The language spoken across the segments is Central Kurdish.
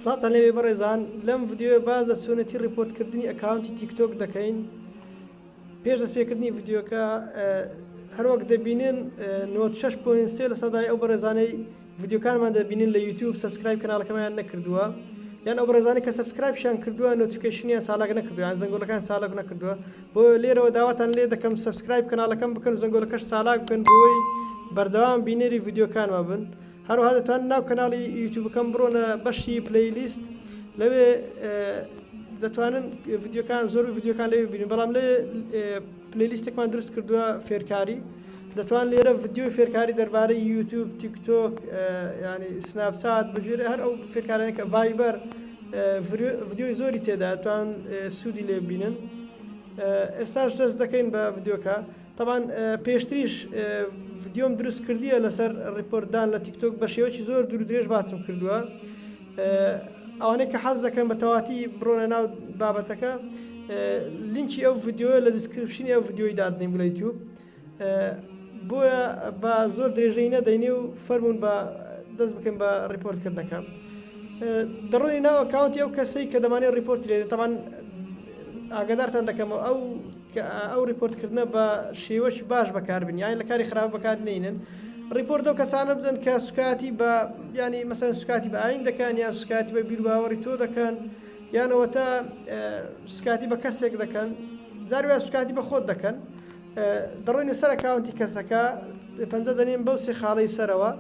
سڵاوتان لێبێ بەڕێزان لەم ڤیدیۆیە باس لە چۆنێتی ڕیپۆرت کردنی ئەکاونتی تیک تۆک دەکەین پێش دەست پێکردنی ڤیدیۆکە هەروەک دەبینن نۆت 6 پوین سێ لە سەدای ئەو بەڕێزانەی ڤیدیۆکانمان دەبینن لە یوتیوب سبسکرایب کەناڵەکەمەیان نەکردووە یان ئەو بەڕێزانانی کە سبسکرایبشیان کردووە نۆتیفیکەیشنیان چالاک نەکردووە یان زەنگۆلەکان چالاک نەکردووە بۆ لێرەوە داواتان لێ دەکەم سبسکرایب کەناڵەکەم بکەن و زەنگۆلەکەش چالاک بکەن بۆی بەردەوام بینەری ڤیدیۆکانمان بن هەروەها دەتوانن ناو کەناڵی یوتوبەکەم بڕۆنە بەشی پلەی لیست لەوێ دەتوانن ڤیددیوکان زۆر ڤیددیوکان لەوێ بینن بەڵام لێ پلەی لیستێکمان دروست کردووە فێرکاری دەتوان لێرە ڤیددیو فێرکاری دەربارەی یوتوب تیکتۆک ینی سناپچات بژێرە هەر ئەو فێرکارانەکە ڤایبەر ڤیددیوی زۆری تێدا توان سوودی لێ بینن ئێستاش دەست دەکەین بە ڤیددیوکە تەبعەن پێشتریش ڤیدیۆم دروست کردیە لەسەر ڕیپۆرت دان لە تیکتۆک بە شێوەی زۆر دوور درێژ باسم کردووە ئەوانەی کە حەز دەکەن بە تەواتی بڕۆنە ناو بابەتەکە لینکی ئەو ڤیددیوە لە دیسکرپشنی ئەو ڤیددیۆی دادنیم لە یوتیوب بۆیە بە زۆر درێژەی نەدەینێ و فەرمونون بە دەست بکەم بە ڕیپۆرتکردنەکە دەڕۆی ناو کاونتی ئەو کەسەی کە دەمانێت ڕیپۆرت لێ تەوان ئاگدارتان دەکەمەوە ئەو کە ئەو ڕیپۆرت کردنە بە شێوەکی باش بەکار بن یانی لە کاری خراپ بەکار نەینن ڕیپۆرت ئەو کەسانە بدەن کە سوکایەتی بە یانی مەسەن سوکاتی بە ئاین دەکەن یان سوکایەتی بە بیرباوەڕی تۆ دەکەن یانەوە تا سوکاتی بە کەسێک دەکەن زاروە سوکاتی بە خۆت دەکەن دەڕۆین سەر کاونتی کەسەکە پەنجە دەنیم بەو سێ خاڵی سەرەوە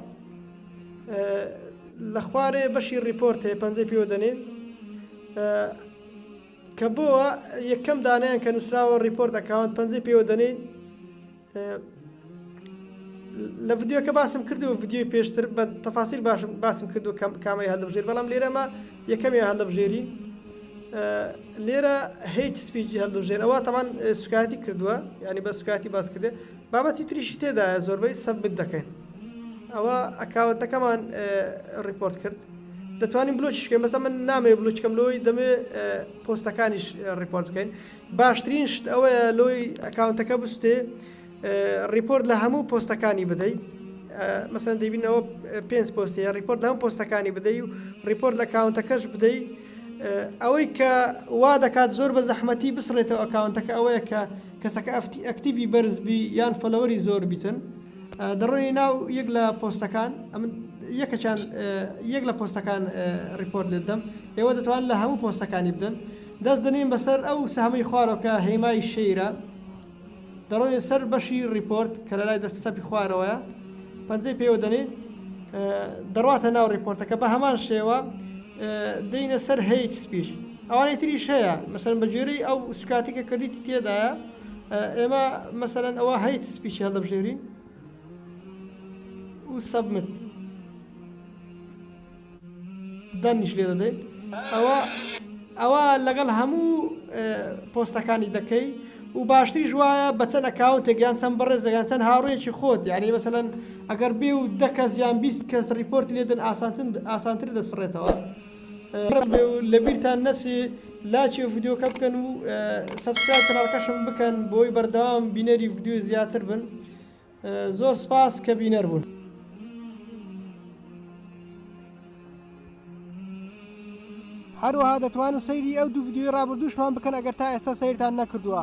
لە خوارێ بەشی ڕیپۆرت هەیە پەنجەی پێوە دەنێن کە بۆوا یەکەم دانەیان کە نوسراوە ڕیپۆرت ئەکاونت پەنجەی پێوە دەنێین لە ڤیددیوکە باسم کردو ڤیددیوی پێشتر بە تەفاسیر باشم باسم کردو کەم کامەی هەلبژێر بەڵام لێرەمە یەکەمی هەلبژێری لێرە هیچ سپیجی هەلبژێر ئەوە تەمان سوکایەتی کردووە ینی بە سوکاتی باس کردێ بابەتی تریشی تێدایە زۆربەی سەبمت دەکەین ئەوە ئەکاونتەکەمان ڕیپۆرت کرد دەتوانین بلۆکیش بکەین بەسە من نامەوێ بلوچکەم لۆی دەمێ پۆستەکانیش ڕیپۆرت بکەین باشترین شت ئەوەیە لۆی ئەکاونتەکە بستێ ڕیپۆرت لە هەموو پۆستەکانی بدەیت مەسەن دەبینەوە پێنج پۆستەیە ڕیپۆرت لەم پۆستەکانی بدەی و ڕیپۆرت لە کاونتەکەش بدەی ئەوەی کە وا دەکات زۆر بە زەحمەتی بسڕێتەوە ئەکاونتەکە ئەوەیە کە کەسەکە ئەکتیڤی بەرز بی یان فەلەوەری زۆر بیتن دەڕۆی ناو یەک لە پۆستەکان ئەمن یەکەچان یەک لە پۆستەکان ریپۆرت لێ دەم ئێوە دەتوان لە هەموو پۆستەکانی بدەن دەست دەنین بەسەر ئەو سەهمەی خوارۆکە هێمای شەیرە دەڕۆێ سەر بەشی ریپۆرت کە لە لای دەست سەپی خوارەوەە پەنجەی پێوە دەنین دەڕاتە ناو ریپۆرتەکە بە هەمان شێوە دێینە سەر هەیت سپیچ ئەوانەی تریش هەیە مەسەرەن بە جۆرەی ئەو سوکاتی کە کردیتی تێدایە ئێمە مەسەرەن ئەوە هەیت سپیچی هەڵدەبژێرین و سەبمت دەنیش لێ دەدەین ئەوە ئەوە لەگەڵ هەموو پۆستەکانی دەکەی و باشتریش وایە بە چەند ئەکاونتێک یان چەند بەڕێزێک یان چەند هاوڕێیەکی خۆت یانی مەسەلەن ئەگەر بێ و دە کەس یان بیست کەس ڕیپۆرتی لێدەن ئاسانتر دەسڕێتەوە لەبیرتان نەچێ لاکی و ڤیددیوکە بکەن و سەبسکرای کەناڵکەشم بکەن بۆی بەردەوام بینەری ڤیددیو زیاتر بن زۆر سپاس کە بینەر بوون. هەروەها دەتوانن سەیری ئەو دوو ڤیدیۆی ڕابردووشمان بکەن ئەگەر تا ئێستا سەیرتان نەکردووە.